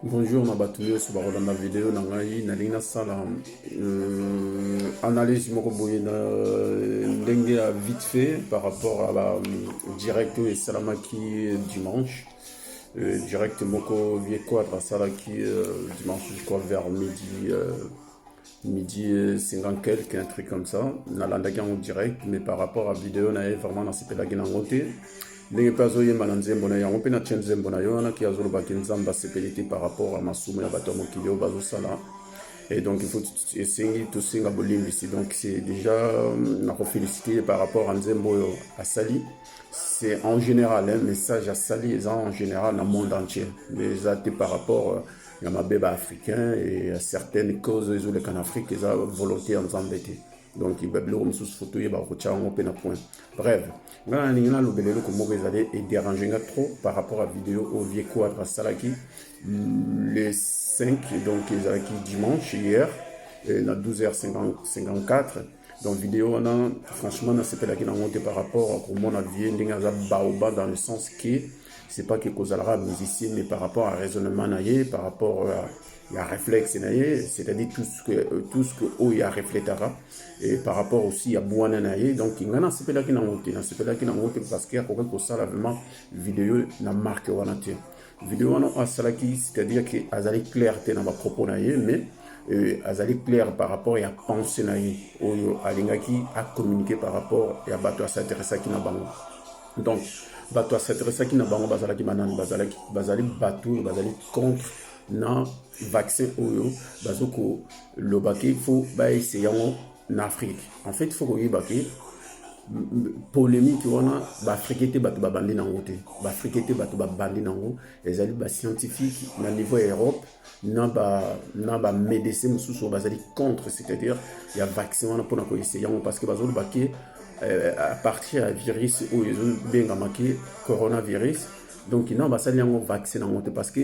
bonjour na bato nyonso bakolanda video na ngai nalingi nasala euh, analyse moko boye na euh, ndenge ya vite fait par rapport à la euh, direct oyo esalamaki dimanche euh, direct moko vie quadre asalaki euh, dimanche je crois vers midi euh, midi 50 quelque un truc comme ça nalandaki yango direct mais par rapport à video na ye vraiment nasepelaki nango te ndenge mpe azoyemba na nzembo na yango mpe na tie nzembo na yo wana ki azolobaki nzambe asepeli te par rapport à masumu ya bato ya mokili oyo bazosala et donc il faut esengi tosenga bolimbisi donc c'est déjà euh, nakofélicité par rapport à nzembo oyo asali c'est en général hein, message asali eza en général na monde entier mais eza te par rapport euh, ya mabe ba africain et ya certaines causes ezoleka na afrique eza volonté ya nzambe te donc babiloko mosusu fo toyeba kotya yango mpe na point bref ngai nalingi nalobela eloko moko ezali ederange nga trop par rapport à video oyo vie quadre asalaki le 5 donc ezalaki dimanche hier euh, na 12h54 donc video wana franchement nasepelaki nango te par rapport akomona vie ndenge aza baoba dans le sens que c'est pas que kozalaka musicien mais par rapport à raisonnement na ye par rapport à ya réflexe na ye c'est-à-dire tout ce que euh, tout ce que oyo ya refletaka et par rapport aussi ya bwana na ye donc ngai nasepelaki nango te nasepelaki nango te parce que akokaki kosala vraiment video na marque wana te video wana oyo asalaki c'est-à-dire que azali clair te na bapropos na ye mais euh, azali clair par rapport ya pensée na ye oyo alingaki acommuniquer par rapport ya bato asinteressaki na bango donc bato asadressaki na bango bazalaki banani bazalaki bazali bato oyo bazali contre na vaccin oyo bazo koloba ke fo baese yango na afrique en fait fo koyeba ke polémique wana baafrike te bato babandi nango te baafrike te bato babandi nango ezali bascientifique na niveau ya europe na ba na ba médecins mosusu oyo bazali contre c'est-à-dire ya vaccin wana mpona koeseye yango parce que bazoloba ke euh, à partir ya virus oyo ezobengama ke coronavirus donc non basali yango vaccin yango te parce que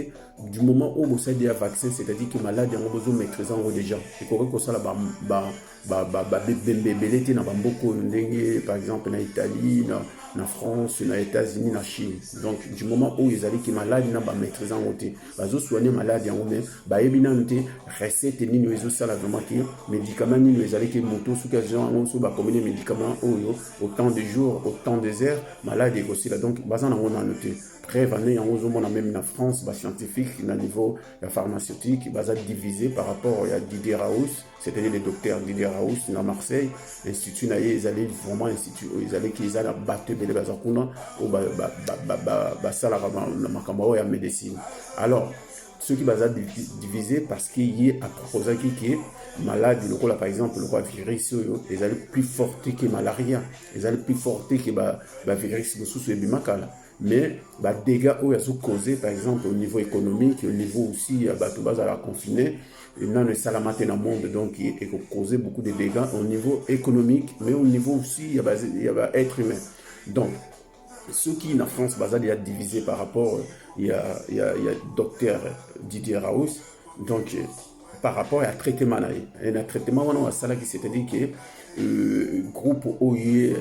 du moment oyo bosali ya vaccin c'est-à-dire ke malade yango bozomaîtrise yango déjà ekoki kosala ba, ba babembe ebele te na bamboka oyo ndenge par exemple na italie na, na france na états-unis na chine donc du moment oyo ezali ke maladi na bamaîtrise yango te bazosoigne maladi yango mai bayebi nano te recette nini oyo ezosala vraiment ke médicament nini oyo ezali ke moto soki azwa yango so bakomini médicament oyo autant de jours autant des heures maladi ekosila donc baza nango nano te preuve ane yango ozomona meme na france bascientifique na niveau ya pharmaceutique baza divise par rapport ya didier raus C'était le docteur Didier Raoust na Marseille, institut na ye ezali vraiment institut oyo ezalaki eza na bato ebele baza kuna oyo basalaka na makambo oyo ya médecine. Alors soki baza divise parce que ye aproposaki ke maladi lokola par exemple lokola virus oyo ezali plus forte ke malaria ezali plus forte ke bavirus ba mosusu ebima kala mais ba dégâts oyo azo causer par exemple au niveau économique au niveau aussi ya bato bazala confine nano esalama te na monde donc eko causer beaucoup de dégâts au niveau économique mais au niveau aussi ya ba, ya ba être humain donc soki na france baza deya divise par rapport ya, ya, ya docteur didier raus donc par rapport ya traitement na ye na traitement wana asalaki c'est à dire que euh, groupe oyo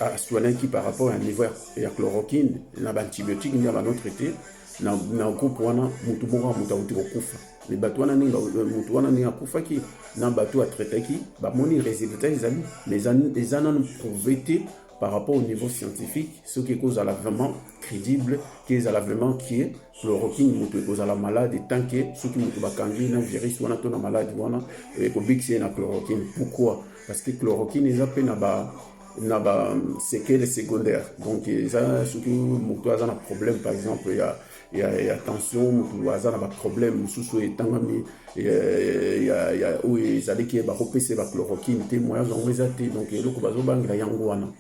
aswanaki par rapport ya niveau ya chloroquine na baantibiotique nde bano traite na, na groupe wana motu moko ya moto auti kokufa me bato wana ndenge motu wana ndenge akufaki na bato atraitaki bamoni résultat ezali me eza nanu prouve te par rapport au niveau scientifique soki ekozala vraiment crédible ke ezala vraiment kie chloroquine moto ekozala malade tant que soki moto bakangi na virus wana to na malade wana ekobikisa ye na chloroquine pourquoi parce que chloroquine eza mpe na ba na ba sekele secondaire donc eza soki moto aza na problème par exemple ya ya, ya tension moto aza na baproblème mosusu oyo etangami oyo ezalaki bakopesa ye bachloroquine te moya yango eza te donc eloko bazobangela yango wana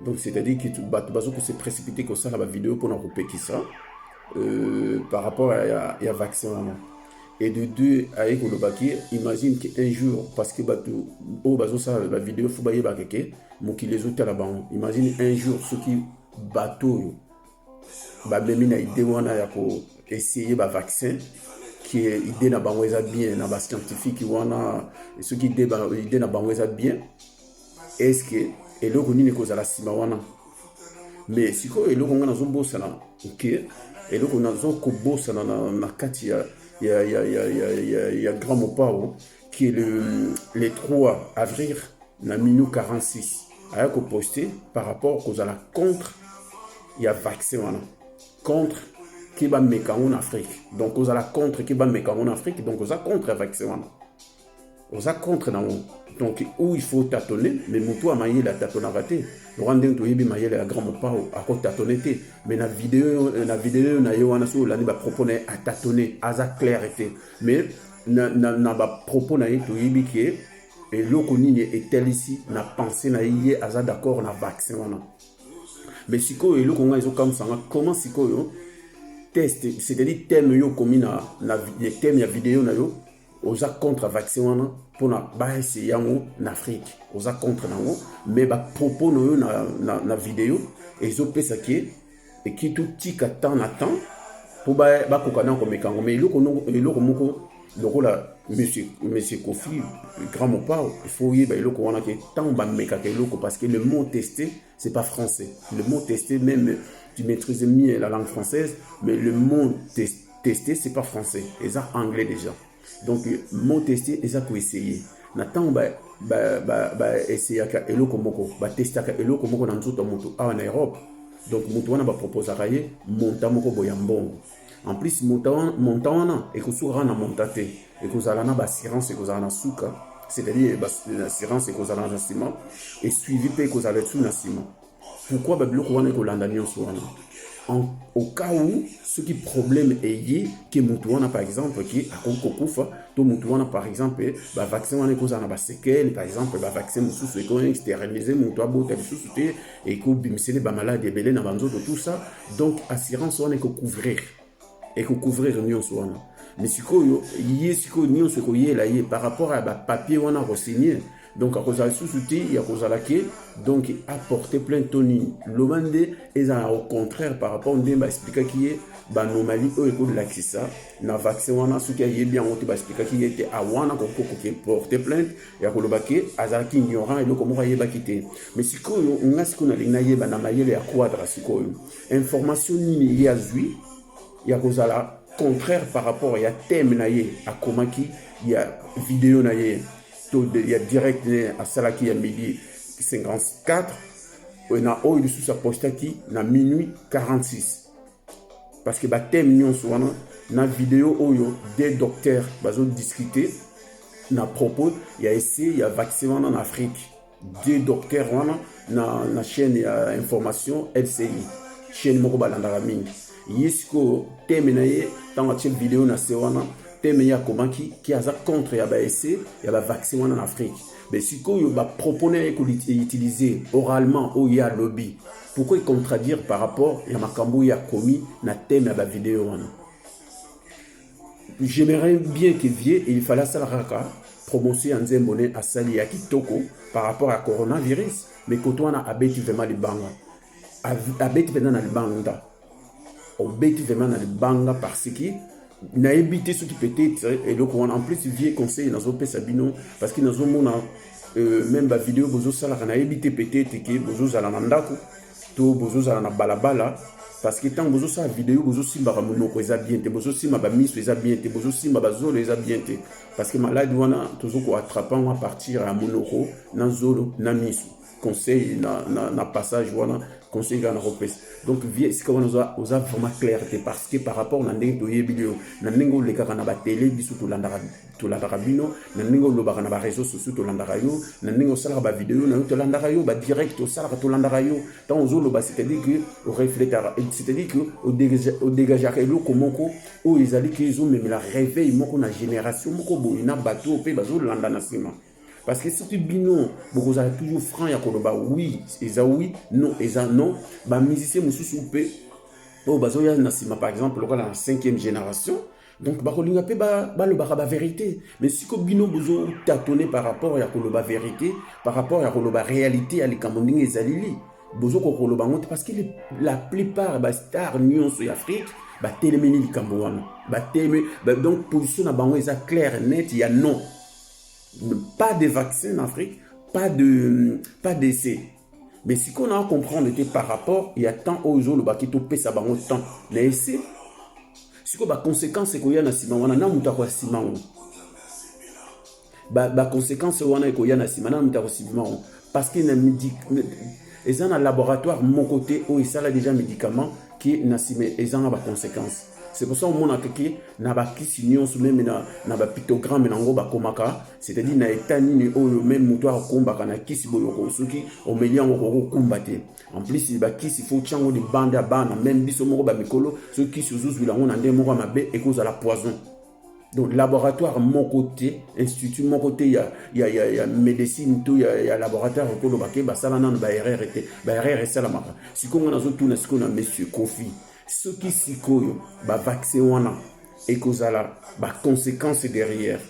donc c'est-à-dire que bato bazo ko se précipiter kosala ba video mpona kopekisa euh, par rapport ya, ya, ya vaccin wana et de deux aye koloba ke imagine ke un jour parce que bato oyo bazosala ba video fo bayebaka ke mokili ezotala bango imagine un jour soki bato oyo bamemi na idée wana ya ko essayer ba vaccin qui est idée na bango eza bien na ba scientifique wana soki idée na bango eza bien est ce que eloko nini ekozala nsima wana mais sikoyo eloko ngai nazobosana ke eloko nazo kobosana na, na kati ya, ya, ya, ya, ya, ya, ya grand mopao ke le, le 3 avril na minu 46 aya koposte par rapport kozala contre ya vaccin wana contre ke bameka yango na afrique donc kozala contre ke bameka yango na afrique donc oza contre ya vaccin wana oza contre nango donc ou il faut tatone mais motu ya mayele atatonaka te loka ndenge toyebi mayele ya grand mopao akotatone te mais na video na video na ye wana soki olandi bapropos na ye atatone aza claire te mais na, na, na bapropos na ye toyebi ke eloko nini etalisi na pensée na ye ye aza d'accord na vaccin wana mais sikoyo eloko ngai ezokamwisa nga comment sikoyo test c'est-à-dire thème yo okomi na, na thème ya video na yo oza contre vaccin wana mpona baese yango na afrique oza contre nango mais bapropos na yo na, na, na video ezopesa ke eki totika temps na temps mpo bakoka na komeka yango mais eloko moko lokola monsieur, monsieur kofi grand mopao il faut oyeba eloko wana ke ntango bamekaka eloko parce que le mot teste C'est pas français. Le mot tester, même tu maîtrises mieux la langue française, mais le mot tester, c'est pas français. C'est anglais déjà. Donc, le mot tester, c'est quoi essayer. Na tango ba ba ba ba essayaka eloko moko, ba testaka eloko moko na nzoto moto awa na Europe. Donc moto wana ba proposaka ye monta moko boya mbongo. En plus, montant wana ekosuka kaka na montant te, ekozala na baassurance ekozala na suka, c'est-à-dire baassurance ekozala na nsima, esuivi mpe ekozala etu na nsima. Pourquoi babiloko wana ekolanda nyonso wana au cas où soki problème eye ke motu wana par exemple ke akoki kokufa to motu wana par exemple bavaccin wana ekozala na basekele par exemple bavaccin mosusu ekosterilize motu abota lisusu te ekobimisele bamaladi ebele na banzoto tout ça donc assurance wana ekocouvrir ekocouvrir nyonso wana me sikoyo ye sikoyo nyonso ekoyela ye par rapport ya bapapier wana akosigne donc akozala lisusu te ya kozala ke donc aporte plainte to nini loba nde ezala au contraire par rapport nde baexplikaki ye banomali oyo ekolakisa na vaccin wana soki ayebi yango te baexplikaki ye te awana kokoki porte plainte ya koloba ke azalaki ignorant eloko moko ayebaki te mais sikoyo nga sikoyo nalingi nayeba na mayele ya quadra sikoyo information nini ye azwi ya kozala contraire par rapport ya thème na ye akomaki ya video na ye to ya direct ne asalaki ya midi 54 na oyo lisusu apostaki na minuit 46 parce que ba thème nyonso wana na video oyo des docteurs bazo discuter na propos ya essai ya vaccin wana na Afrique deux docteurs wana na, na chaîne ya information LCI chaîne moko balandaka mingi ye sikoyo teme na ye ntango atie video na se wana teme ye akomaki ki aza contre ya baesse ya bavaccin wana na afrique me sikoyo bapropone ye koutilize oralement oyo ye alobi Pourquoi contradire par rapport ya makambo ya komi na thème ya ba vidéo wana? J'aimerais bien que Vieux il fallait asalaka kaka promotion ya nzembo ne asali ya kitoko par rapport ya coronavirus, mais koto wana abeti vraiment libanga, abeti mpenza na libanga. obeti vraiment na libanga parce que nayebi te soki peut-être eloko wana en plus vieux conseil nazopesa bino parce que nazomona euh, même bavideo bozosalaka nayebi te peut-être ke bozozala na ndako to bozozala na balabala parce que ntango bozosala video bozosimbaka monoko eza bien te bozosimba bamiso eza bien te bozosimba bazolo eza bien te parce que maladi wana tozokoatrape yango a partir ya monoko na zolo na miso conseil na, na, na passage wana conseil kaka nakopesa donc vie sika wana oza, oza vraiment claire te parce que par rapport na ndenge toyebi yo na ndenge olekaka na batele biso tolandaka tolandaka bino na ndenge olobaka na bareseau sociaux tolandaka yo na ndenge osalaka bavideo na yo tolandaka yo badirect osalaka tolandaka yo ntango ozoloba c'est-à-dire que orefletaka c'est-à-dire que odegageaka eloko moko oyo ezali ke ezomemela réveil moko na génération moko boye na bato oyo mpe bazolanda na nsima Parce que soki bino bokozala toujours franc ya koloba oui eza oui non eza non ba musicien mosusu mpe oyo bazoya na nsima par exemple lokola na cinquième génération donc bakolinga mpe balobaka ba baverité mais siko bino bozo tatone par rapport ya koloba verité par rapport ya koloba réalité ya likambo ndenge ezalili bozo kokoloba yango te parce que la plupart bastar nyonso ya afrique batelemeli likambo wana bateleme donc position na bango eza claire net ya non pas de vaccin na afrique pas de pas d'essai mais sikoyo naa comprendre te par rapport ya temps oyo ozolobaki topesa bango temps na ese sikoyo baconséquence ekoya na nsima wana na moto akoya nsima yango baconséquence wana ekoya na nsima na moto akosima yango parce que na eza na laboratoire moko te oyo esala déjà médicament qui na nsima ezanga ba conséquences c'est pour ça omonaka ke na bakisi nyonso meme na, na bapictogramme na yango bakomaka c'est-à-dire na eta nini oyo meme moto akokumbaka na kisi boye oko soki omeli yango okoki kokumba te en plus bakisi fo otya yango libanda ya bana meme biso moko bamikolo soki kisi ozozwila yango na ndenge moko ya mabe ekozala poison donc laboratoire moko te institut moko te ya, ya, ya, ya médecine to ya, ya laboratoire okoloba ke basala nano baerreur te baerreur esalamaka sikoyo ngai nazotuna sikoyo na monsieur kofi soki sikoyo bavaccin wana ekozala baconséquence derrière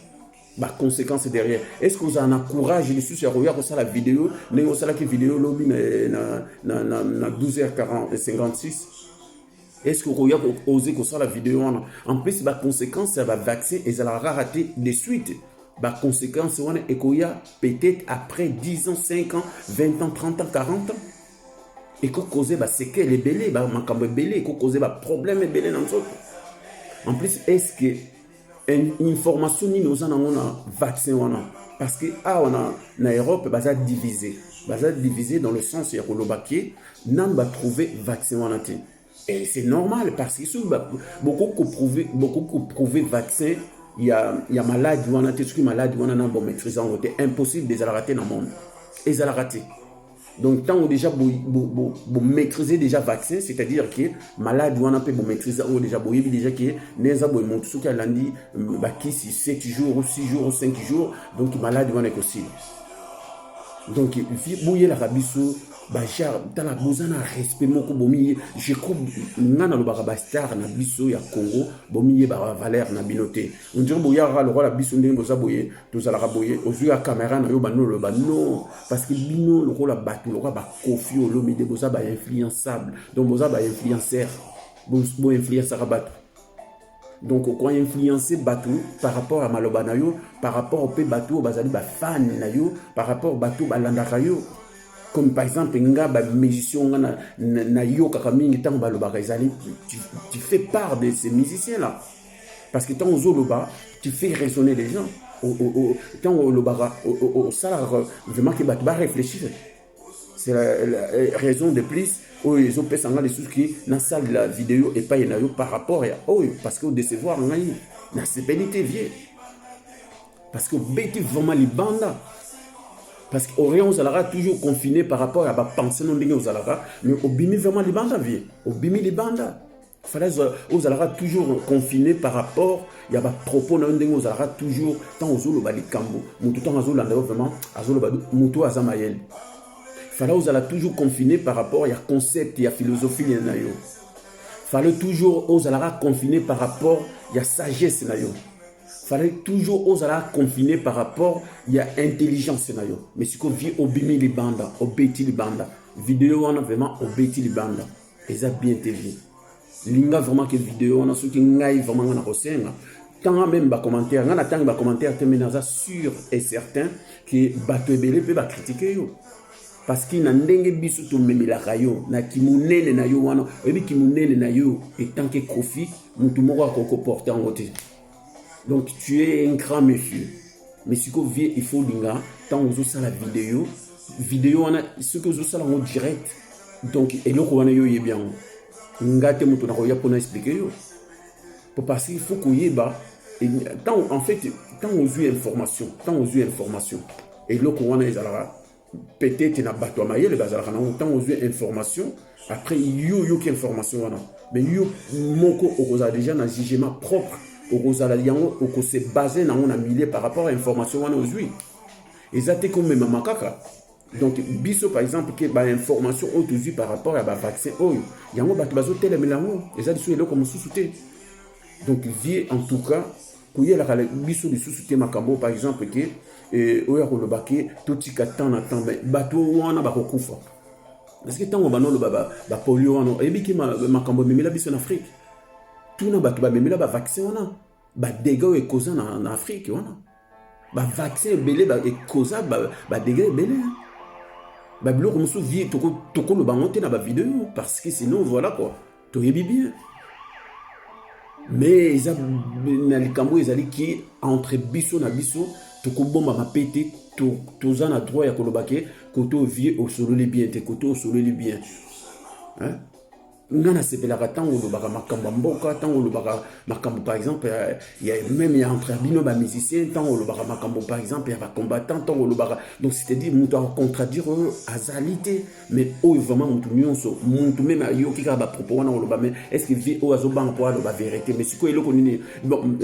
baconséquence derrière est ce que ozala na courage lisusu ya koya kosala video ndenge osalaki video lobi na, na, na, na, na 12 h 56 Est-ce que okoya ko oser kosala video wana? En plus ba conséquences ya ba vaccin ezalaka kaka te de suite. Ba conséquences wana ekoya peut-être après 10 ans, 5 ans, 20 ans, 30 ans, 40 ans. Eko causer ba séquelles ebele, ba makambo ebele, eko causer ba problèmes ebele na nzoto. En plus, est-ce que information nini oza nango na vaccin wana parce que awa na, na europe baza divise baza divise dans le sens ya koloba ke nanu batrouve vaccin wana te et c'est normal parce que soki bokoki koprouve bokoki koprouve vaccin ya, ya maladi wana te soki maladi wana na bomaîtrise yango te impossible ezalaka te na monde ezalaka te donc ntango déjà bomaîtrise bo, bo déjà vaccin c'est-à-dire ke malade wana mpe bomaîtrise yango déjà boyebi déjà ke nde eza boye motu soki alandi mm, bakisi 7 jours ou 6 jours ou 5 jours donc malade wana ekosila donc boyelaka biso bajar tala boza na respect moko bomiye je crois nga nalobaka bastar na biso ya congo bomiyebaka valeur na bino te ondire boyaka lokola biso ndenge boza boye tozalaka boye ozwi ya kamera na yo bandi oloba non parce que bino lokola bato lokola bakofi olomide boza bainfluençable donc boza bainfluenceur boinfluensaka bato donc okoinfluence bato par rapport ya maloba na yo par rapport mpe bato oyo bazali bafane na yo par rapport bato balandaka yo comme par exemple nga bamusicien nga nayokaka na, na mingi ntango balobaka ezali tu, tu fais part de ces musiciens là parce que ntango ozoloba tu fais raisonner les gens ntango olobaka osalaka vraiment ke bato barefléchir c'est la, la euh, raison de plus oyo ezopesa ngai lisusu ki nasalela video epai na yo par rapport ya oyo parce que odecevoir ngai nasepeli te vie parce que obeti vraiment libanda parce que orient ozalaka toujours confiné par rapport ya bapense no ndenge ozalaka mais obimi vraiment libanda vie obimi libanda falaise ozalaka toujours confine par rapport ya bapropos na yo ndenge ozalaka toujours ntango ozoloba likambo moto ntango azolanda yo vraiment azoloba moto oyo aza mayele fala ozala toujours confine par rapport ya concept ya philosophie na yo fale toujours ozalaka confine par rapport ya sagesse na yo fale toujours ozalaka confine par rapport ya intelligence na yo mais sikoyo vie obimi libanda obeti libanda video wana vraiment obeti libanda eza bien te vie linga vraiment ke video wana soki ngai vraiment ngai nakosenga tanga meme bacommentaire ngai natangi bacommentaire te me naza sûr et certain ke bato ebele mpe bakritike yo parce que na ndenge biso tomemelaka yo na kimonene na yo wana oyebi kimonene na yo etanke kofi motu moko akoki koporte yango te donc tu es un grand monsieur mais sikoyo vie il faut olinga ntango ozosala video video wana soki ozosala yango direct donc eloko wana yo oyebi yango nga te moto nakoya mpo na explike yo po parce il faut koyeba ntango en fait ntango ozwi information ntango ozwi information eloko wana ezalaka peut-être na bato ya mayele bazalaka nango ntango ozwi information après yo oyoki information wana mais yo moko okozala déjà na jugement propre okozala yango okose base nango na milieu par rapport ya information wana ozwi eza te komemama kaka donc biso par exemple ke bainformation oyo tozwi par rapport ya bavaccin oyo yango bato bazotelemela yango eza lisusu eloko mosusu te donc vie en tout cas koyelaka biso lisusu te makambo oyo par exemple ke eh, oyo ya koloba ke totika temps na temps mais bato wana bakokufa parce que ntango banda oloba bapolio wana oyebi ke makambo ememela biso na afrique tuna bato bamemela bavaccin wana badega oyo ekoza na afrique wana bavaccin ebele ekoza badega ebele babiloko mosusu vie tokoloba yango te na bavideo parce que sinon voilà quoi toyebi bien mais eza na likambo ezali ki entre biso na biso tokobombama mpe te toza na droit ya koloba ke kote ovie osololi bien te kote osololi bien hein? nga nasepelaka ntango olobaka makambo ya mboka ntango olobaka makambo par exemple ya, ya meme ya entre bino bamusicien ntango olobaka makambo par exemple ya bacombattant ntango olobaka donc c'est-à-dire moto akocontraduire oyo azali te mais oyo vraiment mutu nyonso mutu meme ayoki kaka bapropos wana koloba mais est ce que vie oyo azobanga mpo aloba verité mais sikoyo eloko nini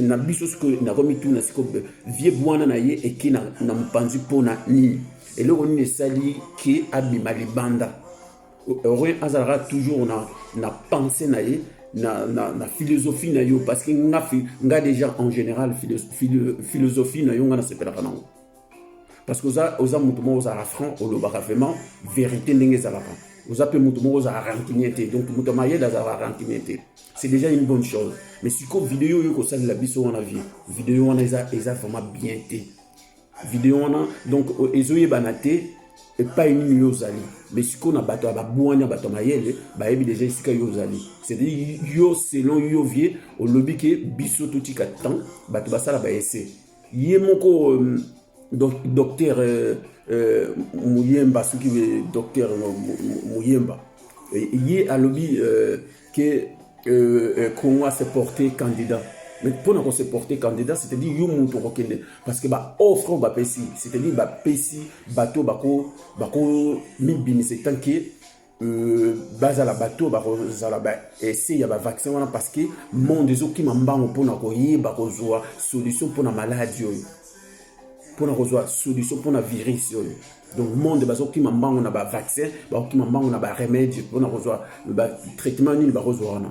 na biso sikoyo nakomituna sikoyo vie bwana na ye eki na, na mopanzi mpo na nini eloko nini esali ke abima libanda rien azalaka toujours na, na pensée na ye na, na, na philosophie na yo parce que nga, nga déjà en général philosophie na yo nga nasepelaka nango parce que oza oza moto moko ozalaka franc olobaka vraiment vérité ndenge ezalaka oza mpe moto moko ozalaka rancunier te donc moto ya mayele azalaka rancunier te c'est déjà une bonne chose mais sikoyo video oyo ekosalela biso wana vie video wana eza eza vraiment bien te video wana donc ezoyebana te epai nini yo ozali mais sikoyo na bato ya babwanya bato ya mayele bayebi deja esika yo ozali c'est-à-dire yo selon yo vie olobi ke biso totika temps bato basala baese ye moko docteur euh, euh, muyemba soki docteur muyemba ye alobi euh, ke congo ase porte candidat mais mpo na kose porte candidat c'est-à-dire yo moto okokende parce que baoffre oyo bapesi c'est-à-dire bapesi bato bakomibimisa etanke Euh, bazala bato oyo bakozala baese ya bavaccin wana parce que monde ezokima mbango mpona koyeba kozwa solution mpona maladi oyo mpona kozwa solution mpona virus oyo donc monde bazokima mbango na bavaccin bakokima mbango na baremede mpona kozwa batraitement nini bakozwa wana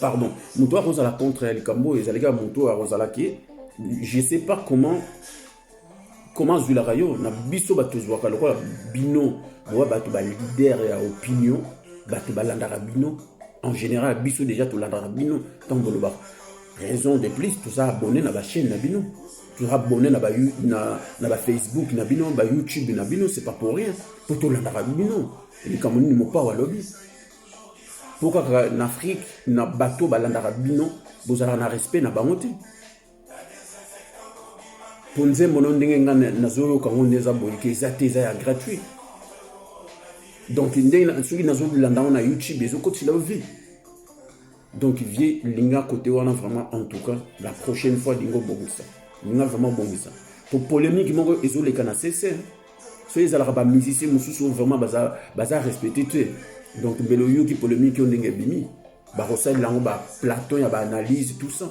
pardon moto oyo akozala contre ya likambo oyo ezalaki ya moto oyo akozala ke je sais pas comment comment azwilaka yo na biso bato tozwaka lokola bino boya bato balider ya opinion bato balandaka bino en général biso déjà tolandaka bino ntango bolobaka raison de plus toza abonné na bachaîne na bino toza abonné na bafacebook na, na, ba Facebook, na bino bayoutube na bino c'est pas pour rien mpo tolandaka bino likambo nini mopao alobi mpo kaka na afrike na bato oyo balandaka bino bozalaka na respect na bango te mpo nzembo no ndenge ngai nazoyoka yango nde eza boyike eza te eza ya gratuit donc ndenge soki nazolanda yango na youtube ezokotila yo vie donc vie linga kote wana vraiment en tout cas la prochaine fois linga obongisa linga vraiment obongisa mpo polémique moko ezoleka na sese hein. soki ezalaka ba musicien mosusu oyo vraiment baza, baza respecte te donc mbele oyoki polémique oyo ndenge ebimi bakosalela yango baplaton ya baanalyse tout ça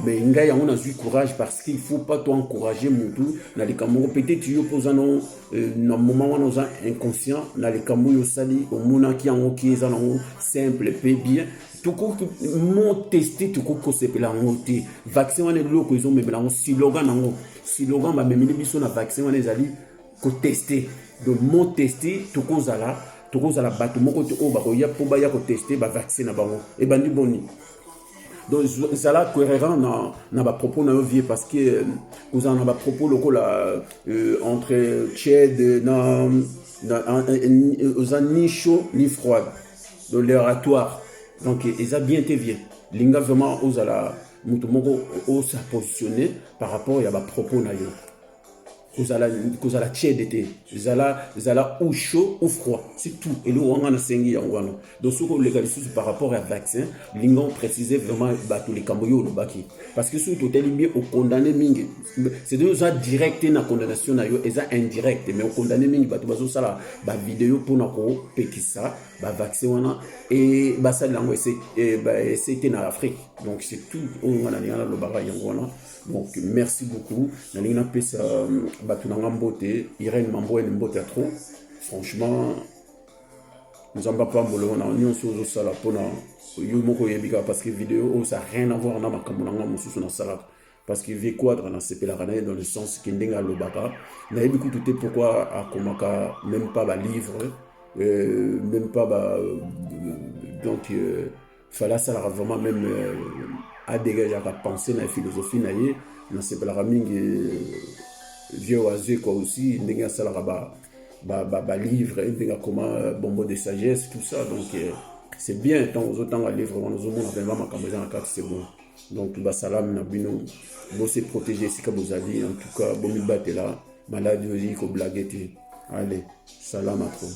mais eh ngai yango nazwi courage parce qu'il faut pas to encourage motu na likambo moko peut-être yo mpo oza nango euh, na moment wana oza inconscient na likambo oyo osali omonaki yango ki eza nango simple mpe bien tokoki mo teste tokoki kosepela yango te vaccin wana eloko ezomemela yango siloga nango Silogan bamemeli biso na vaccin wana ezali koteste donc mot teste tokozala tokozala bato moko te oyo bakoya mpo baya koteste bavaccin na bango ebandi boni donc zala cohérent na, na bapropos na yo vie parce que euh, kozala na bapropos lokola euh, entre tied na, na, na, oza ni chaud ni froide donc l'oratoire donc eza bien te vie linga vraiment ozala moto moko osa positionne par rapport ya bapropos na yo kozala kozala tiede te zala zala ou chaud ou froid c'est tout eloko wanga nasengi yango wana donc soki oleka lisusu par rapport ya vaccin linga oprécise vraiment bato likambo yo olobaki parce que soki totali bien okondane mingi cetadire oza direct te na condamnation na yo eza indirect mais okondane mingi bato bazosala bavideo mpona kopekisa ba vaccin wana e basali yango ese e, ba ese te na Afrique donc c'est tout oyo nga nalinga nalobaka yango wana donc merci beaucoup nalingi napesa euh, bato na nga mbote Irène Mamboine mbote ya trop franchement nzambe apambola yo na nyonso ozosala mpona yo moko oyebi kaka parce que video oyo ça rien avoir na makambo na nga mosusu nasalaka parce que vie quadra nasepelaka na ye dans le sens ke ndenge alobaka nayebi kutu te pourquoi akomaka même pas balivre euh, même pas ba, euh, donc euh, fale asalaka vraiment même euh, adegageaka pensée na philosophie na ye nasepelaka mingi euh, vieux oise quoi aussi ndenge asalaka ba, ba, ba, ba livre ndenge akoma euh, bombo de sagesse tout ça donc euh, c'est bien ntango ozotanga livre wana ozomona vraiment makambo eza na kati c'est bon donc basalamu na bino bose protege esika bozali en tout cas bomibatela maladi oyo ezali koblage te ale salama trop